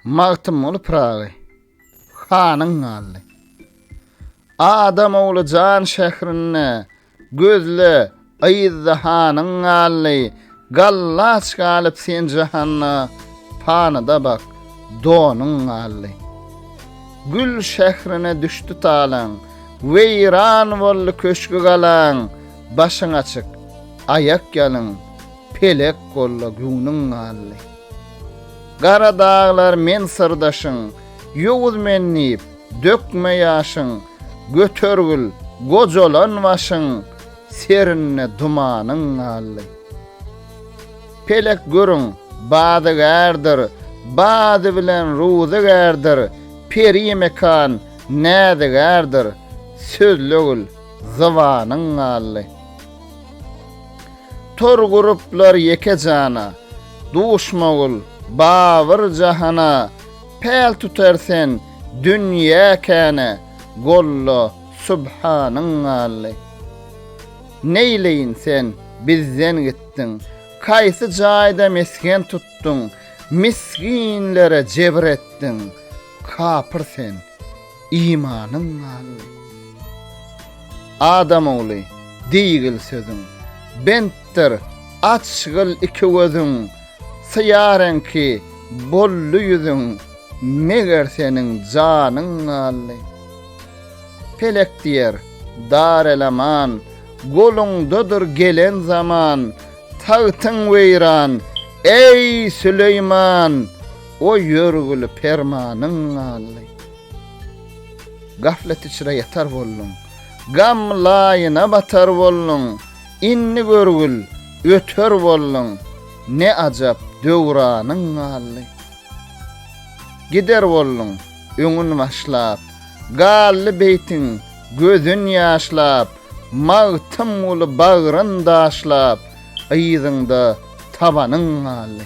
Magtymguly Pyragy hanyň galdy. Adam ogly jan şährinde, gözle, yzda hanyň galdy. Gallaç galyp sen jahanda, panyda bak, donuň galdy. Gül şährine düşdi talaň, weýran boldy köşgi-galaň, başyň açyk, aýak ýalyn, Pelek golla göwnüň galdy. Gara daglar men syrdaşyň, Ýowuz men diýip, dökme ýaşyň, Götergil, gojalan başyň, Serinde dumanyň galdy. Pelek görüň, badygärdir, Bady bilen ruzygärdir, Peri mekan, näzigärdir, Sözlegil, zybanyň galdy. Tor guruplar ýeke jana, Duşmagul, Babyr jahana, Päl tutar sen, dünýä käne, Golla, subhanyň galdy. Neýleýin sen, bizden gitdiň, Kaýsy jaýda mesgen tutduň, Misginlere jebir etdiň, Kapyr sen. imanyň galdy. Adam ogly, diýgil sözüň, bentdir, açgyl iki gözüň, syýa reňki boldy ýüzüň, meger seniň janyň galdy. Pelek diýer, dar el-aman, goluňdadyr gelen zaman, tagtyň weýran, eý, Süleýman! O ýörgüli permanyň galdy. Gaflet içre ýatar bolduň. Gam laýyna batar bolduň. Indi görgül, öter bolduň. Ne ajap, döwranyň galdy. Gider bolduň, öňün başlap. Galdy beýtiň, gözün ýaşlap. Magtymguly bagryn daşlap. Yzyňda tabanyň galdy.